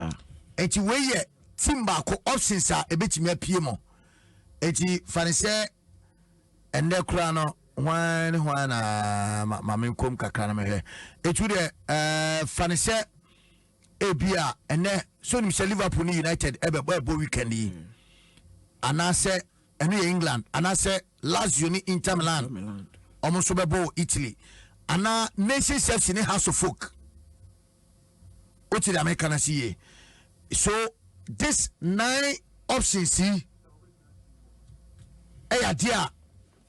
a. Enti wei yɛ team baako options a ɛbɛtumi apue mu. Enti fa ne sɛ ɛnnɛ koraa no hwan ne hwan na ma, ma menkɔm kakra no mehwɛ. Ɛtu deɛ ɛɛ fa ne sɛ ebi a ɛnɛ so nim sɛ Liverpool ne United ɛbɛbɔ ɛbɔ weekend yi mm. anaasɛ ɛno yɛ England anaasɛ Lazio ne Inter Milan wɔn nso bɛbɔ wɔ Italy anaa Nations FC ne House of Folk. wote deɛ meka no ase yie so this nine options yi ɛyɛ adeɛ a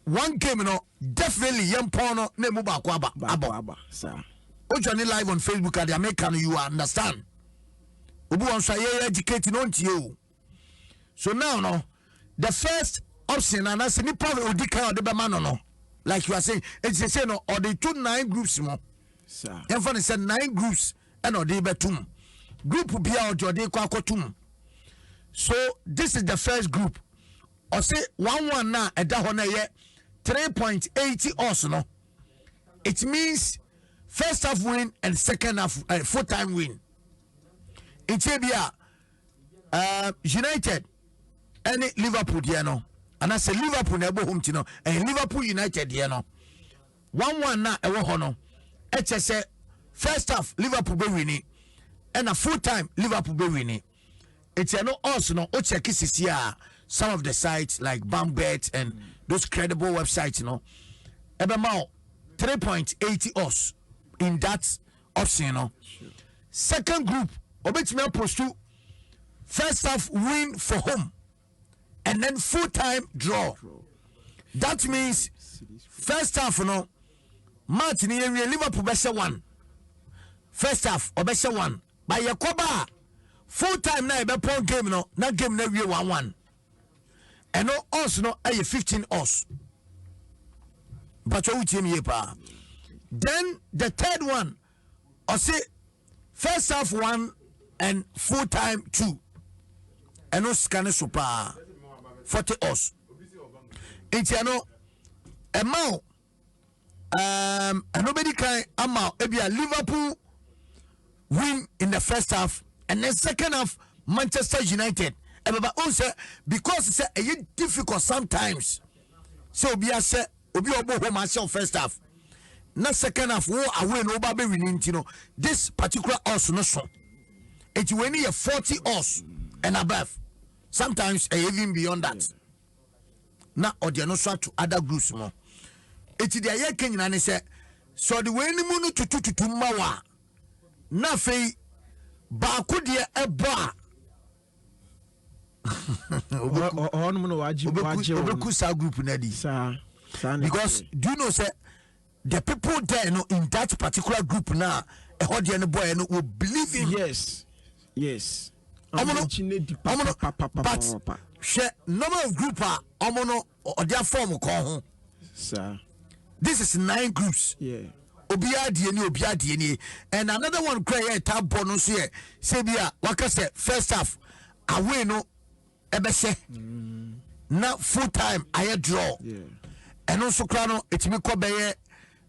one game no definitely yɛn pɔn no na emu baako aba abɔ o join live on facebook adeɛ meka no you understand obi wɔn nso a yɛyɛ educate no ntie o. so now no the first option anaasɛ nipa a odi kan a ɔde bɛma no no like you are saying eti sese no ɔde to nine groups mu yɛn fa ne sɛ nine groups ɛna ɔde bɛtum group bi a ɔde ɔde kɔ akɔtum so this is the first group ɔsi one one na ɛda hɔ na ɛyɛ three point eighty us no it means first half win and second half uh, full time win nti ebi a. ɛɛ united ɛne liverpool deɛ no anaasɛ liverpool na ɛbɔ home ti no ɛyɛ liverpool united deɛ no one one na ɛwɔ hɔ no ɛkyɛ sɛ first half liverpool bɛ wini ɛna full time liverpool bɛ wini nti ɛno odds no o check sisi a some of the sites like bambet and those credible websites no ɛbɛ ma o three point eighty odds in that option no second group ɔbɛtumi apostu first half win for home and then full time draw that means first half no match ni yɛ wie liverpool bɛhyɛ one first half ɔbɛhyɛ one ba yɛ kɔba a full time na yɛbɛpɔn game no na game no awie one one. ɛno ɔs no ɛyɛ fifteen ɔs mpatwa wotie mi yie paa then the third one ɔse first half one and full time two ɛno sika ne so paa forty ɔs nti ɛno ɛma o. um, ɛno bɛdi kan ama ebia liverpool win in the first half and then second half manchester united ɛbɛba ɔn sɛ because sɛ ɛyɛ difficult sometimes sɛ obi ahyɛ obi a ɔbɔ home ahyɛ first half na second half wo away no woba bɛwi no nti no this particular us no so nti wei ne yɛ 40 us and above sometimes ɛyɛ even beyond that na ɔde ɛno nso ato other groups mu eti deɛ yɛka nyinaa ne sɛ sɛ ɔde wɔn anim no tutututu mma wɔ a na afei baako deɛ ɛbɔ a ɔnom no wagye wagye wɔn ɔbɛku saa group no adi saa saa na because ɛteɛ do you know sɛ The people there no in that particular group na ɛhɔ deɛ no bɔɛ no wɔ believe in. Yes yes. Ɔmo no ɔmo no but hwɛ number of group a ɔmo no ɔde afɔm kɔn ho. Saa. This is nine groups. Yeah. obiara deɛ ni obiara deɛ ni and another one kura yɛ ɛta bɔ no nso yɛ sɛ bi a waka sɛ first half away no. ɛbɛhyɛ na full time ayɛ draw ɛno nso koraa no ɛtumi kɔ bɛyɛ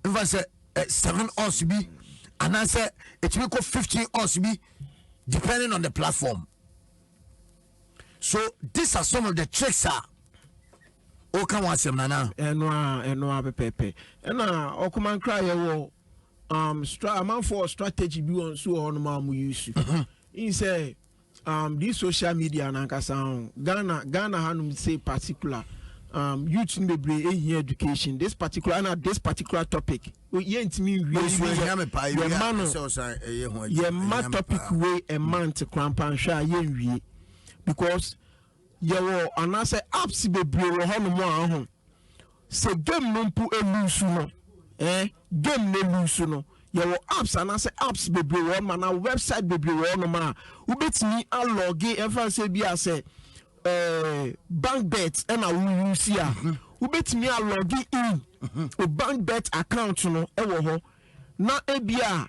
mfa sɛ eh, seven us bi anaasɛ ɛtumi kɔ fifteen us bi depending on the platform so these are some of the tricks a woka ho asɛm nana ɛno a ɛno a pɛpɛpɛ ɛna ɔkoma nkra yɛwɔ um, stra amanfoɔ strategy bi wɔ nso wɔ hɔ nom a mo use n sɛ um, this social media nankasa ho ghana ghana hanom say particular um, youth no bebree ehia education this particular ana this particular topic yɛntumi nwie yɛma no yɛma topic wei ɛma nte korampa nhwɛ a yɛnwie because Yɛwɔ anaasɛ apps bebree wɔ hɔ nom a ho sɛ game no mpo eluusu no eh game no eluusu no yɛwɔ apps anaasɛ apps bebree wɔ hɔ nom anaa website bebree wɔ hɔ nom a wobɛtumi alɔge ɛmfa nsɛ bi a sɛ eh, bank bet ɛna woyusi a mhm. wobɛtumi alɔge in mhm. o bank bet account no ɛwɔ hɔ na ebi a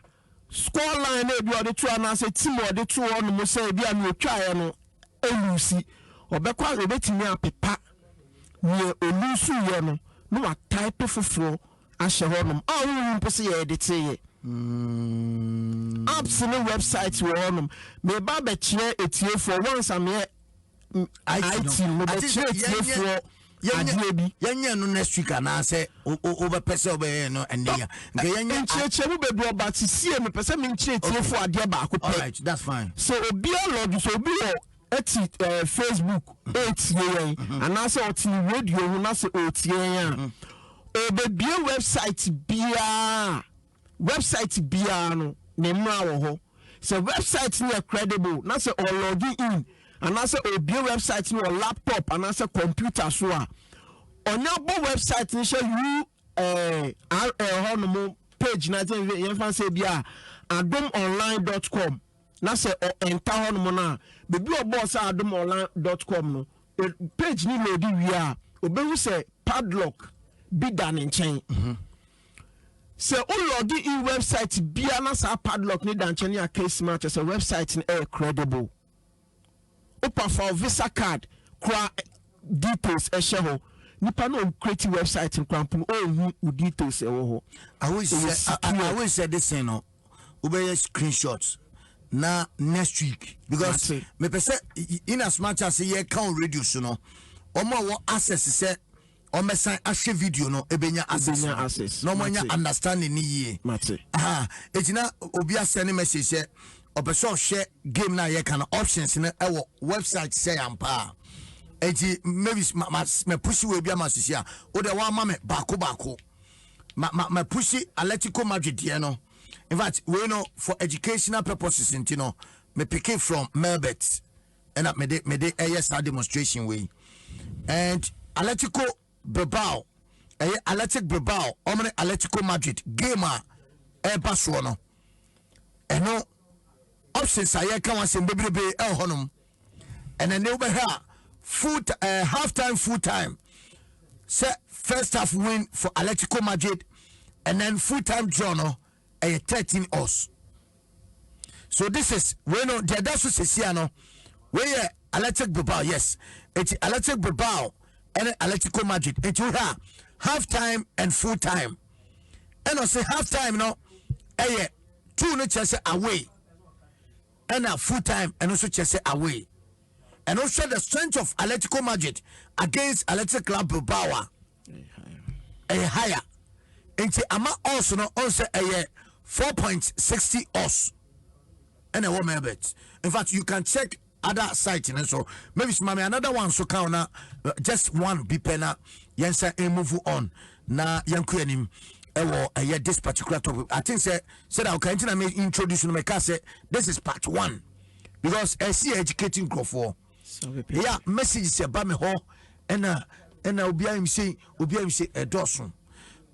Score line no ebi a ɔde to anaasɛ team a ɔde to hɔ nom sɛ ebi a nea otwaeɛ no aluusi. Ɔbɛkɔ a obetumi apepa nea oluusuiɛ no na watype foforɔ ahyɛ hɔ nom a wonhu mpo sɛ yɛɛdeteeɛ. Apps ne websites wɔ hɔ nom. Meba abɛkyerɛ atiefoɔ once a meɛ. it no mobɛkyerɛ tiefoɔ adeɛ bi yɛnyɛ no next week anaasɛ wobɛpɛ sɛ wobɛyɛ no ɛnɛ ya nka yɛnyɛ nkyerɛkyerɛ mu bɛdu ɔba te sie mepɛ sɛ menkyerɛ tiefoɔ adeɛ baako pɛ sɛ obi alɔge sɛ obi wɔ ɛti ɛɛ eh, facebook ɛretie mm-hmm. yɛn mm-hmm. anaasɛ ɔte radio ho na sɛ ɔretie yɛn a ɔbɛbie mm-hmm. website biara wɛbsaet biara no ne mmara wɔ hɔ. Sɛ wɛbsaet no yɛ credible na sɛ ɔlɔge in anaasɛ ɔbue wɛbsaet no wɔ laptop anaasɛ kɔmputa so a, ɔnya bɔ wɛbsaet no hyɛ URL hɔ nom page no sɛ yɛmfa no sɛ ebi a adomonline.com na sɛ ɔɛnta hɔ nom no a, baabi a ɔbɔɔ sɛ adomonline.com no page no lɔdi wie a, ɔbɛhu sɛ padlock bi da ne nkyɛn. Sɛ wo log in website bi a na saa padlock ne da nkyɛn a case ma kyerɛ sɛ website no ɛyɛ credible. Wopa fa wo visa card kora details ɛhyɛ hɔ. Nipa no ɔn create website no kora mpo no ɔnhu wo details ɛwɔ hɔ. Awisɛ de sen no wobɛyɛ screenshot na next week because mepɛ sɛ in as much as yɛka on radio so no wɔn a wɔ access sɛ wɔbɛsan ahwɛ video no ebenya access no access. na wɔanya understanding ne yie mate aha eti na obi asɛ ne message sɛ ɔpɛ sɛ ɔhwɛ game no a yɛka no options no ɛwɔ website sɛ yampa a eti maybe ma ma ma pusi wɔ ebi ama sisi a o de wɔama me baako baako ma ma ma pusi Atletico Madrid deɛ no in fact wei no for educational purposes nti no me pick it from Melbert. ɛna mede mede ɛyɛ saa demonstration wei and Atletico Bilbao ɛyɛ Athletic Bilbao wɔn ne Atletico Madrid game a ɛreba soɔ no ɛno options a yɛka wɔn asɛm bebrebe ɛwɔ hɔnom ɛna ne wobɛhwɛ a full uh, half time full time sɛ first half win for Atletico Madrid and then full time draw no ɛyɛ thirteen us. so this is wei no deɛ ɛda so sesia no wei yɛ Athletic Bilbao yes eti Athletic Bilbao ɛne Atletico Madrid eti wohwɛ a half time and full time ɛna ɔsɛ half time no ɛyɛ two no kyerɛ sɛ away ɛna full time ɛno nso kyerɛ sɛ away ɛno hwɛ the strength of Atletico Madrid against Athletic Club Bilbao a. ɛyɛ higher nti ama us no ɔn sɛ ɛyɛ four point sixty us ɛna ɛwɔ melbert in fact you can check other site no so maybe sima me another one so ka na uh, just one bi pɛ na yɛn sɛ eh, move on na yɛn kɔ anim ɛwɔ ɛyɛ this particular topic i think sɛ sɛdeɛ ɔka nti na me introduce no mɛka sɛ this is part one because ɛsi educating nkurɔfoɔ. Ɛyɛ a messages ɛba me hɔ ɛna ɛna obi ayim sei obi ayim sei ɛdɔɔso.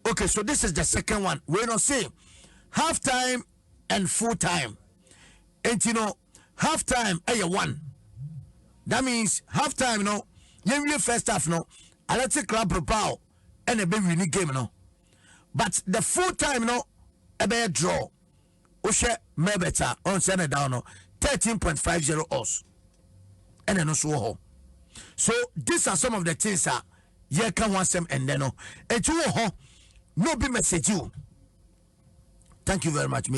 Okay, so this is the second one. Wei no say half time and full time. Enti no half time ɛyɛ one. That means half time no yɛn wie first half no Athletic Club Bilbao ɛna ɛbɛ win game no but the full time no ɛbɛyɛ draw. wohwɛ mɛbɛt a ɔn sɛ na ɛda hɔ no thirteen point five zero ɔs ɛna ɛno nso wɔ hɔ so these are some of the things a yɛka ho asɛm ɛndɛ no eti wɔ hɔ na obi message o thank you very much maybe.